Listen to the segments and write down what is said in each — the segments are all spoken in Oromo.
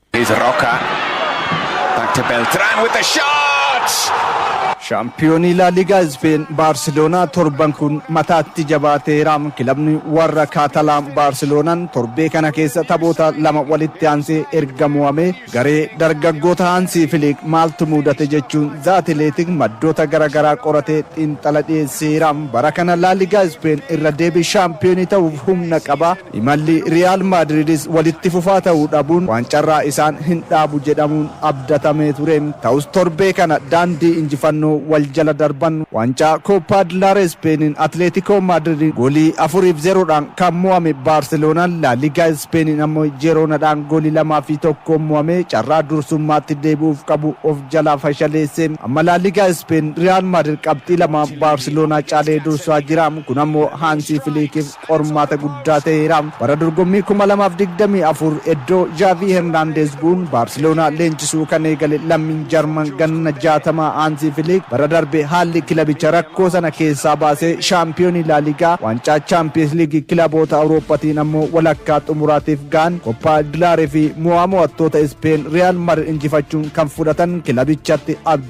Here's Roca. Back to Beltran with the shot! Shaampiyoonii Laa Liigaa Ispeen Baarseloonaa torban kun mataatti jabaateera. Kilabni warra Kaatalaan Baarseloonaan torbee kana keessa taphoota lama walitti aansee erga mo'amee garee dargaggoota Haansii Filiik maaltu muudate jechuun The Athletic maddoota garagaraa qoratee xiinxala dhiyeesseera. Bara kana Laa Liigaa Ispeen irra deebii shaampiyoonii ta'uuf humna qaba. Imalli Riyaal Maadridis walitti fufaa ta'uu dhabuun waancarraa isaan hin dhaabu jedhamuun abdatamee ture. Ta'us torbee kana daandii injifannoo wal jala darban. Waancaa Kooppaa Dilaaree Ispeeniin Atileetikoo Maadridiin goolii 4 fi 0 dhaan kan mo'ame Baarseloonaan Laa Ligaa Ispeeniin ammo Jiroonadhaan goolii 2 fi 1n mo'amee carraa dursummaatti deebi'uuf qabu of jalaa fashaleesse. Amma Laa Ligaa Ispeen Riyaal Maadrid qabxii lamaan Baarseloonaa caalee dursaa jira. Kun ammoo Haansii Filiikiif. qormaata guddaa ta'eera. Bara dorgommii 2024 iddoo Zhaavii Hernaandeez bu'uun Baarseloonaa leenjisuu kan eegale lammiin Jarman ganna 60 Haanzii Filiik bara darbe haalli kilabicha rakkoo sana keessaa baasee shaampiyoonii Laaligaa, waancaa Chaampiyees Liigii kilaboota Awurooppaatiin ammoo walakkaa xumuraatiif gahan. Koppaa Dilaareefi mo'aa mo'attoota Ispeen Riyaal Madrid injifachuun kan fudhatan kilabichatti abdii.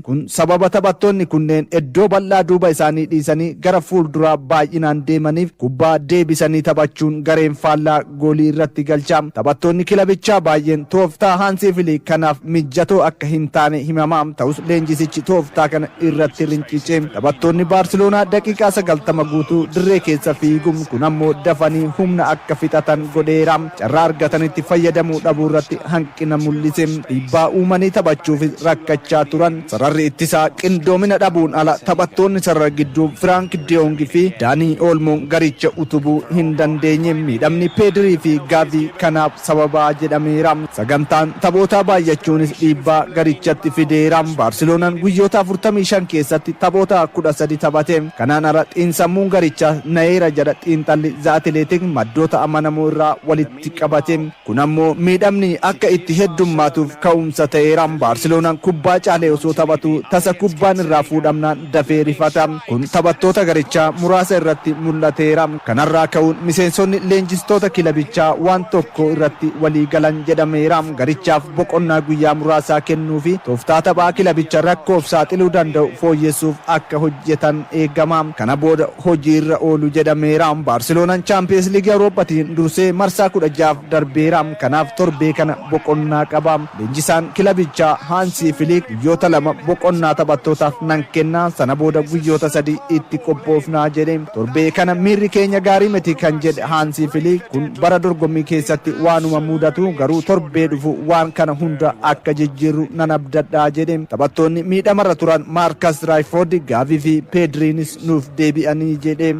Kun sababa taphattoonni kunneen eddoo bal'aa duuba isaanii dhiisanii gara fuulduraa baay'inaan deemaniif kubbaa deebisanii taphachuun gareen faallaa goolii irratti galcha. Taphattoonni kilabichaa baay'een tooftaa Haansii Filiik kanaaf mijjatoo akka hin taane himama. Ta'us leenjisichi tooftaa kana irratti rincice. Taphattoonni Baarsiloonaa daqiiqaa 90 guutuu dirree keessa fiigu, kun ammoo dafanii humna akka fixatan godheera. Carraa argatanitti fayyadamuu dhabuurratti hanqina mul'ise. Dhiibbaa uumanii taphachuufis rakkachaa turan. Sararri ittisaa qindoomina dhabuun ala taphattoonni sarara gidduu Firaank Deyoong fi Daanii Oolmoon garicha utubuu hin dandeenye. Miidhamni Peedirii fi Gaavii kanaaf sababa jedhameera. Sagantaan taphootaa baay'achuunis dhiibbaa garichatti fideera. Baarseloonan guyyoota 45 keessatti taphoota 13 taphate. Kanaan ala xiinsammuun garichaas nayeera jedha xiinxalli The Athletic maddoota amanamoo irraa walitti qabate. Kun ammoo miidhamni akka itti heddummaatuuf ka'umsa ta'eera. Baarseloonaan kubbaa caalee osoo taphatuu tasa kubbaan irraa fuudhamnaan dafee rifata. Kun taphattoota garichaa muraasa irratti mul'ateera. Kanarraa ka'uun miseensonni leenjistoota kilabichaa waan tokko irratti walii galan jedhameera. Garichaaf. boqonnaa guyyaa muraasaa kennuufi tooftaa taphaa kilabicha rakkoof saaxiluu danda'u fooyyessuuf akka hojjetan eegama. Kana booda hojiirra oolu jedhameera. Baarseloonan Chaampiyeens Liigii Awurooppatiin dursee marsaa kudha ja'aaf darbeera. Kanaaf torbee kana boqonnaa qaba. Leenjisaan kilabichaa Haansii Filiik guyyoota lama boqonnaa taphattootaaf nan kenna, sana booda guyyoota sadii itti qophoofna jedhe. Torbee kana miirri keenya gaarii miti kan jedhe Haansi Filiik kun bara dorgommii keessatti waanuma mudatu garuu torbee dhufu waan kana hunda akka jijjiirru nan abdadha jedhe. Taphattoonni miidhamarra turan Maarkas Raayfoordi, Gaavii fi Peedriinis nuuf deebi'anii jedhe.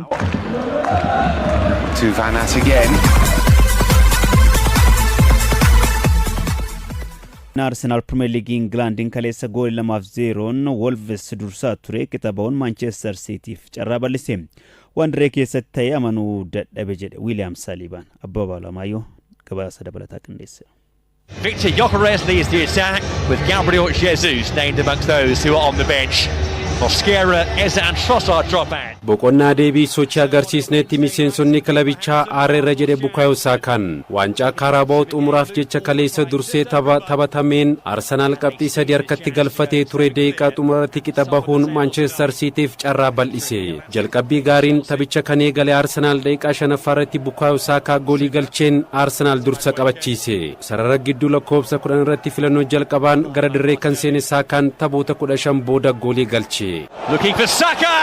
To Van Ass again. Arsenaal Pirimeer Liigii Ingilaandiin kaleessa goolii lamaaf zeeroon Wolves dursaa ture qixa ba'uun Maanchestar Siitiif carraa bal'ise. Waan dirree keessatti ta'e amanuu dadhabe jedhe Wiiliyaam Saliibaan. Abbabaa Alamaayyoo gabaasa dabalataa qindeesseera. Victor Gyokeres leads the attack with Gabriel Jesus named amongst those who are on the bench. Mosquera, Eza and Trossard drop out. Boqonnaa deebii sochii agarsiisneetti miseensonni kilabichaa aarreerra jedhe Bukaayoo Saakaan. Waancaa Kaaraabaa'oo xumuraaf jecha kaleessa dursee tapha taphatameen Arsenaal qabxii sadii harkatti galfatee ture daqiiqaa xumuraarratti qixa bahuun Maanchester Siitiif carraa bal'ise. Jalqabbii gaariin taphicha kan eegale Arsenaal daqiiqaa shanaffaarratti Bukaayoo Saakaa goolii galcheen Arsenaal dursa qabachiise. Sarara gidduu lakkoofsa kudhan irratti filannoo jalqabaan gara dirree kan seene Saakaan taphoota kudha shan booda goolii galche. Looking for Saka!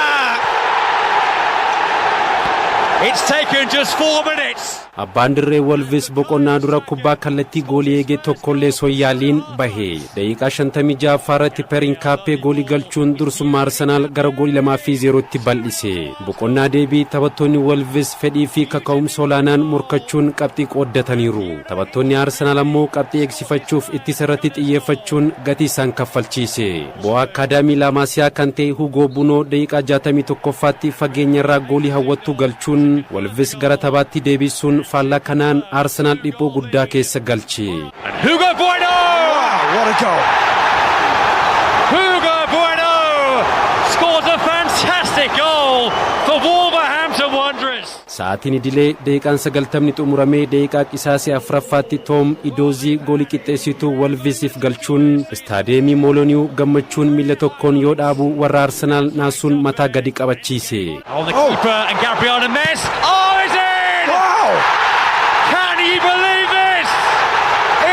It's taken just four minutes. Abbaan dirree Wolvis boqonnaa dura kubbaa kallattii goolii eege tokkollee osoo hin yaaliin bahe. Daqiiqaa 56ffaa irratti Per Inkaappee goolii galchuun dursummaa Arsenaal gara goolii 2 fi 0tti bal'ise. Boqonnaa deebii taphattoonni Wolvis fedhii fi kaka'umsa olaanaan morkachuun qabxii qooddataniiru. Taphattoonni Arsenaal ammoo qabxii eegsifachuuf ittisa irratti xiyyeeffachuun gatii isaan kaffalchiise. Bo Akkaadaamii Laamaasiyaa kan ta'e Hugoo Bunoo daqiiqaa 61ffaatti fageenyarraa goolii hawwattuu galchuun Wolvis gara taphaatti deebiisuun faallaa kanaan Arsenaal dhiphoo guddaa keessa galche. And Hugo Bueno! Wow, what a goal! Hugo Bueno scores a fantastic goal for Wolverhampton Wanderers. Sa'aatiin idilee daqiiqaan 90'ni xumuramee daqiiqaa qisaasee 4ffaatti Toom Idoozii goolii qixxeessituu Wolvisiif galchuun Istaadiyeemii Mooloniyu gammachuun miila tokkoon yoo dhaabu warra Arsenaal naasuun mataa gadi qabachiise. Oh, the keeper and Gabriana Mess. Oh, is in! Wow! Can you believe this?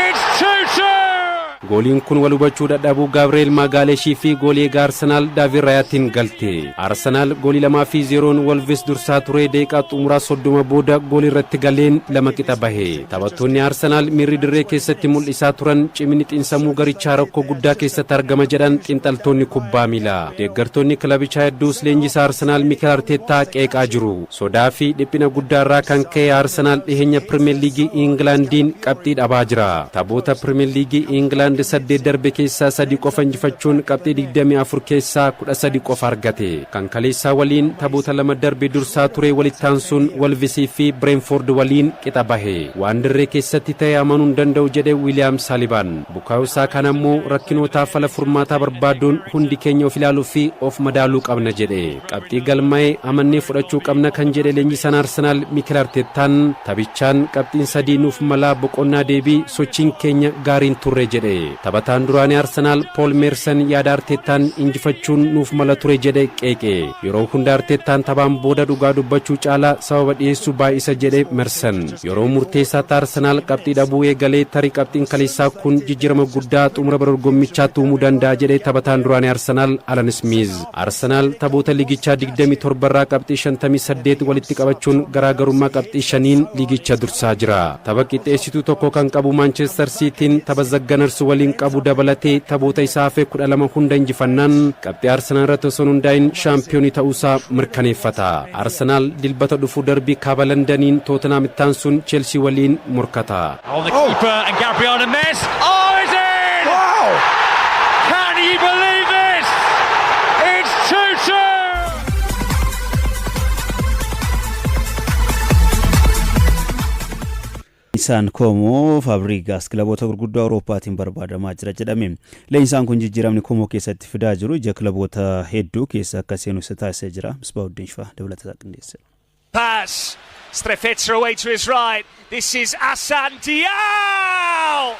It's 2-2! Gooliin kun wal hubachuu dadhabuu Gaabreel Maagaaleshii fi goolii egaa Arsenaal Daavid Raayaatiin galte. Arsenaal goolii 2 fi 0n Wolves dursaa turee daqiiqaa xumuraa 30 booda goolii irratti galeen lama qixa bahe. Taphattoonni Arsenaal miirri dirree keessatti mul'isaa turan ciminni xinsammuu garichaa rakkoo guddaa keessatti argama jedhan xinxaltoonni kubbaa miilaa. Deeggartoonni kilabichaa hedduus leenjisaa Arsenaal Mikel Arteettaa qeeqaa jiru. Sodaa fi dhiphina guddaarraa kan ka'e Arsenaal dhiheenya Piriimer Liigii Ingilaandiin qabxii dhabaa jira. Taphoota Piriimer Liigii Ingilaand saddeet darbe keessaa sadii qofa injifachuun qabxii 24 keessaa 13 qofa argate. Kan kaleessaa waliin taphoota lama darbe dursaa ture walitti aansuun Wolves fi Bireentfoord waliin qixa bahe. Waan dirree keessatti ta'e amanuu hin danda'u jedhe Wiiliyaam Saalibaan. Bukaayoo Saakaan ammoo rakkinootaaf fala furmaataa barbaaduun hundi keenya of ilaaluu fi of madaaluu qabna jedhe. Qabxii galmaa'e amannee fudhachuu qabna kan jedhe leenjisaan Arsenaal Mikel Arteettaan taphichaan qabxiin sadii nuuf malaa boqonnaa deebii sochiin keenya gaarii hin turre jedhe. Taphataan duraanii Arsenaal Pool Meersan yaada Arteettaan injifachuun nuuf mala ture jedhe qeeqe. Yeroo hunda Arteettaan taphaan booda dhugaa dubbachuu caalaa sababa dhiyeessuu baay'isa jedhe Mersan. Yeroo murteessaatti Arsenaal qabxii dhabuu eegalee tarii qabxiin kaleessaa kun jijjiirama guddaa xumura bara dorgommichaatti uumuu danda'a jedhe taphataan duraanii Arsenaal Alan Ismiiz. Arsenaal taphoota liigichaa 27 irraa qabxii 58 walitti qabachuun garaagarummaa qabxii shaniin liigicha dursaa jira. Tapha qixxeessituu tokko kan qabu Maanchester Siitiin tapha The Gunners waliin qabu dabalatee taphoota isaa hafe 12 hunda injifannaan qabxii Arsenaal irratti osoo hin hundaa'in shaampiyoonii ta'uusaa mirkaneeffata. Arsenaal Dilbata dhufu darbii Kaaba Landaniin Tootenhaam itti aansuun Cheelsii waliin morkata. On the keeper and Gabriel Messi. Oh, is it? Wow! Can you believe this? It's 2-2! Isaan Koomoo Faabrigaas kilaboota gurguddoo Awurooppaatiin barbaadamaa jira jedhame. Leenjisaan kun jijjiiramni Koomoo keessatti fidaa jiru ija kilaboota hedduu keessa akka seenu isa taasisee jira. Misbaa Uddin Shifaa dabalata isaa qindeesseera. Pass. Strefezza away to his right. This is Assane Diao!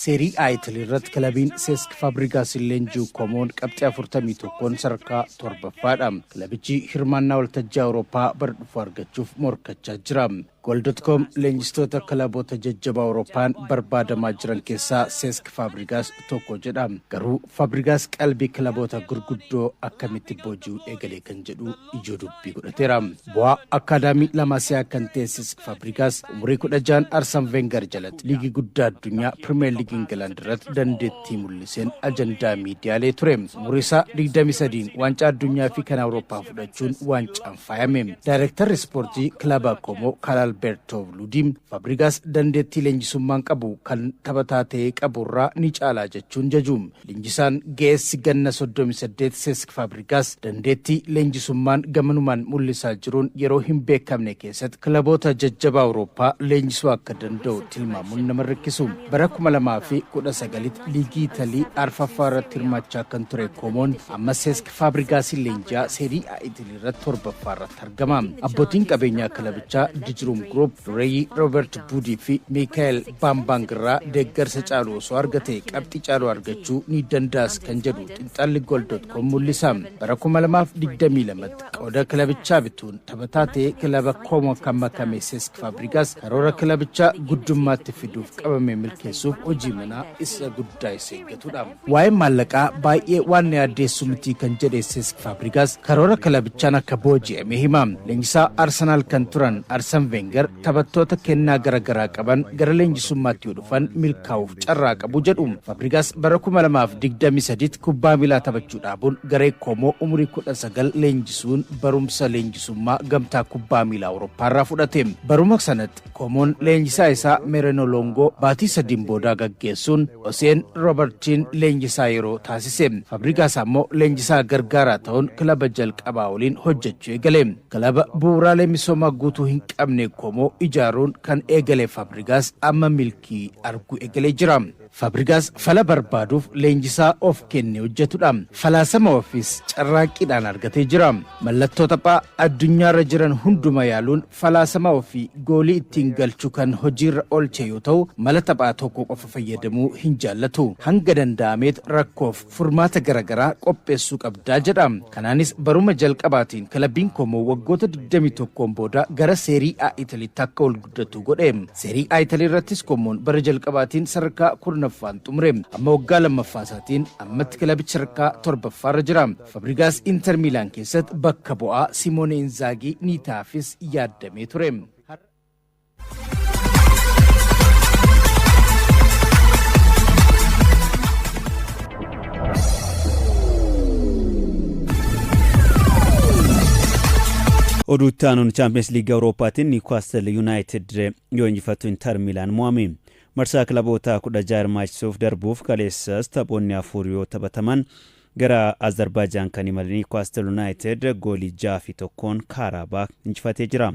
Seerii A Italii irratti kilabiin Seesk Faabrigaasiin leenji'u Komoon qabxii 41n sadarkaa torbaffaadha. Kilabichi hirmaannaa waltajjii Awurooppaa bara dhufu argachuuf morkachaa jira. Goal.com leenjistoota kilaboota jajjabaa Awurooppaan barbaadamaa jiran keessaa Seesk Faabrigaas tokko jedha. Garuu Faabrigaas qalbii kilaboota gurguddoo akkamitti booji'uu eegale kan jedhu ijoo dubbii godhateera. Bu'aa akkaadaamii Lamaasiyaa kan teessis Faabrigaas umurii 16 Arsan Veengar jalatti liigii guddaa addunyaa Pirimeer Liigii Ingilaand irratti dandeettii mul'iseen ajandaa miidiyaalee ture. Umurii isaa 23n waancaa addunyaa fi kan Awurooppaa fudhachuun waancaan faayame. Daayirektarri Ispoortii Kilaba Koomo Kaalalbeertoo Luudiin Faabrigaas dandeettii leenjisummaan qabu kan taphataa ta'ee qabu irraa ni caalaa jechuun jaju. Leenjisaan ga'eessi ganna 38 Seesk Faabrigaas dandeettii leenjisummaan gamanumaan mul'isaa jiruun yeroo hin beekamne keessatti kilaboota jajjabaa Awurooppaa leenjisuu akka danda'u tilmaamuun nama hin rakkisu. Bara 2019tti liigii Italii arfaffaa irratti hirmaachaa kan ture Koomoon amma Seesk Faabrigaasiin leenji'aa Seerii A Idilirratti 7ffaa irratti argama. Abbootiin qabeenyaa kilabichaa Dijruum Group dureeyyii Roobert Buudii fi Miikaa'el Baambaang irraa deeggarsa caalu osoo argate qabxii caalu argachuu ni danda'as kan jedhu xinxalli Goal.com mul'isa. Bara 2022tti qooda kilabichaa bituun taphataa ta'ee kilaba Koomoo kan makame Seesk Faabrigaas karoora kilabichaa guddummaatti fiduuf qabame milkeessuuf hojii manaa isa guddaa isa eeggatudha. Waa'een maallaqaa baay'ee waan na yaaddeessu miti kan jedhe Seesk Faabrigaas karoora kilabichaan akka booji'ame hima. Leenjisaa Arsenaal kan turan Arsan Veengar taphattoota kennaa gara garaa qaban gara leenjisummaatti yoo dhufan milkaa'uuf carraa qabu jedhu. Faabrigaas bara 2023 kubbaa miilaa taphachuu dhaabuun garee Koomoo umurii 19 leenjisuun barumsa leenjisummaa gamtaa kubbaa miilaa Awurooppaarraa fudhate. Baruma sanatti Qomoon leenjisaa isaa Mereno Longo baatii sadiin boodaa gaggeessuun Oseen Robertchiin leenjisaa yeroo taasise. Fabrigas ammoo leenjisaa gargaaraa ta'uun kilaba jalqabaa waliin hojjechuu eegale. Kilaba bu'uuraalee misoomaa guutuu hin qabne Komoo ijaaruun kan eegale Fabrigas amma milkii arguu eegalee jira. Fabrigas fala barbaaduuf leenjisaa of kenne hojjetudha. Falaasama ofiis carraaqqiidhaan argatee jira. Mallattoo taphaa addunyaarra jiran hunduma yaaluun falaasama ofii goolii ittiin galchu kan hojiirra oolche yoo ta'u, mala taphaa tokko qofa fayyadamuu hin jaallatu. Hanga danda'ameet rakkoof furmaata gara garaa qopheessuu qabda jedha. Kanaanis baruma jalqabaatiin kilabbiin Koomoo waggoota 21n booda gara Seerii A Italiitti akka ol guddatu godhe. Seerii A Italii irrattis Koomoon bara jalqabaatiin sadarkaa 10ffaan xumure. Amma waggaa 2ffaa isaatiin ammatti kilabichi sadarkaa 7ffaarra jira. Fabrigaas Inter Miilaan keessatti bakka bu'aa Simoone Inzaagii ni taafis yaaddamee ture. Oduu itti aanuun Chaampiyeens Liigii Awurooppaatiin Niwukaastil Yuunaayitid yoo injifattu Inter Miilaan mo'ame. Marsaa kilaboota kudha jaha hirmaachisuuf darbuuf kaleessas taphoonni afur yoo taphataman Gara Azarbaajaan kan imale Niwkaastil Yunaayitid goolii 6 fi 1'n Kaaraabaak injifatee jira.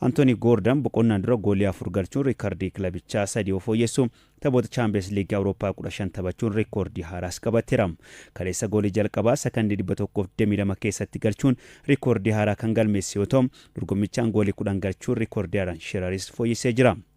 Antoonii Goordan boqonnaan dura goolii afur galchuun riikardii kilabichaa sadii yoo fooyyessu, taphoota Chaampiyeens Liigii Awurooppaa 15 taphachuun riikoordii haaraas qabateera. Kaleessa goolii jalqabaa sakandii 122 keessatti galchuun riikoordii haaraa kan galmeesse yoo ta'u, dorgommichaan goolii 10 galchuun riikoordii Aran Shiraris fooyyessee jira.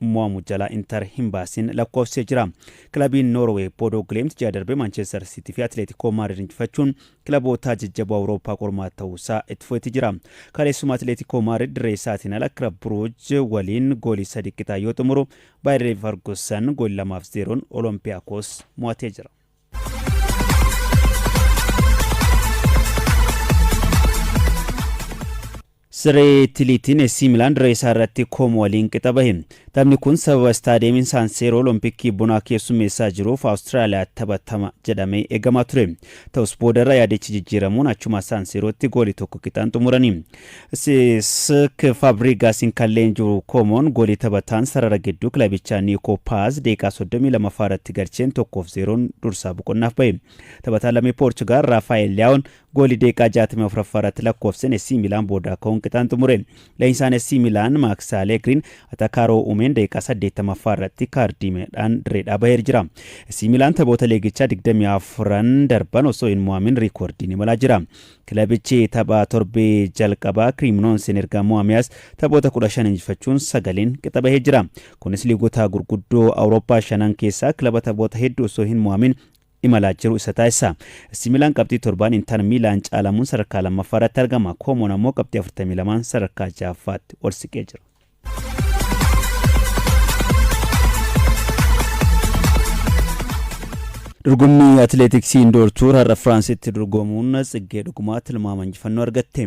mo'amu jalaa Inter hin baasin lakkoofsisee jira. Kilabiin Noorwee Bodo Glimt ji'a darbe Maanchester Siitii fi Atileetikoo Maadrid injifachuun kilabootaa jajjaboo Awurooppaa qormaata ta'uusaa itti fufetti jira. Kaleessuma Atileetikoo Maadrid dirree isaatiin ala Kilab Buruuj waliin goolii sadii qixa yoo xumuru Baayirniif Fargusan goolii lamaaf zeeroon Olompiyaakoos mo'atee jira. Siree Tiliitiin AC Milaan dirree isaa irratti Koomo waliin qixa bahe. Taphni kun sababa istaadiyeemiin Saan Seeroo Olompikii bonaa keessummeessaa jiruuf Awustiraaliyaatti taphatama jedhamee eegamaa ture. Ta'us boodarra yaadichi jijjiiramuun achuma Saan Seerootti goolii tokko qixaan xumurani. Sesk Faabrigaasiin kan leenji'u Koomoon goolii taphataan sarara gidduu kilabichaa Niikoo Paaz daqiiqaa 32ffaa irratti galcheen 1f 0n dursaa boqonnaaf bahe. Taphataan lammii Poorchugaal Raafaa'el Liyaawoon Goolii daqiiqaa 64ffaa irratti lakkoofsen SC Milaan boodaa ka'uun qixaan xumure. Leenjisaan SC Milaan Maaks Aleegriin atakaaroo uumeen daqiiqaa 80ffaa irratti kaardiimeedhaan dirreedhaa baheer jira. SC Milaan taphoota leegichaa 24n darban osoo hin mo'amin riikoordiin imalaa jira. Kilabichi tapha torbee jalqabaa Kiriiminoonsiin erga mo'ameas taphoota 15 injifachuun sagaliin qixa bahee jira. Kunis liigota gurguddoo Awurooppaa shanan keessaa kilaba taphoota hedduu osoo hin mo'amin imalaa jiru isa taasisa. Issi Miilaan qabxii torbaan Intar Miilaan caalamuun sadarkaa lammaffaa irratti argama. Koomoon ammoo qabxii 42n sadarkaa jahaffaatti ol siqee jira. Dorgommii Atileetiksii Indoor Tuur har'a Firaansitti dorgomuun Tsiggee Dhugumaa tilmaama injifannoo argatte.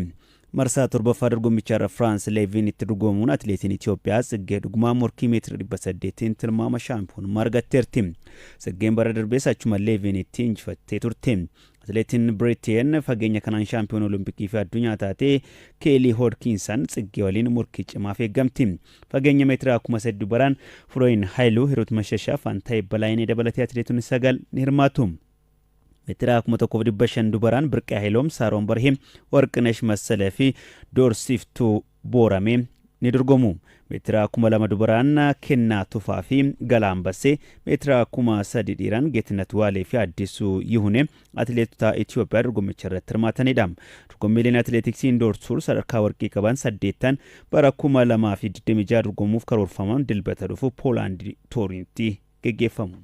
Marsaa 7ffaa dorgommichaarra Firaans Leeviin itti dorgomuun atileetiin Itoophiyaa Tsiggee Dhugumaa morkii meetira 800'tiin tilmaama shaampiyoonummaa argatteerti. Tsiggeen bara darbees achuma Leeviinitti injifattee turte. Atileetiin Biriteen fageenya kanaan shaampiyoona Olompikii fi addunyaa taate Keelii Hoodkiinsan Tsiggee waliin morkii cimaaf eeggamti. Fageenya meetiraa 3000 baraan Firoyin Hayiluu, Hiruut Mashashaa, Faantaayee Balaayinee dabalatee atileetonni sagal ni hirmaatu. Meetiraa 1500 dubaraan Birqee Hayiloom, Saaroon Barhee, Warqinesh Massalee fi Doorsiftuu Booramee ni dorgomu. Meetiraa 2000 dubaraan Kennaa Tufaa fi Galaa Ambassee, meetiraa 3000 dhiiraan Geetinnat Waalee fi Addisuu Yihunee atileetota Itiyoophiyaa dorgommicha irratti hirmaatanidha. Dorgommiileen atileetiksii Indoor Tuur sadarkaa warqii qaban saddeettan bara 2026 dorgomuuf karoorfaman Dilbata dhufu Poolaand Tooriintti geggeeffamu.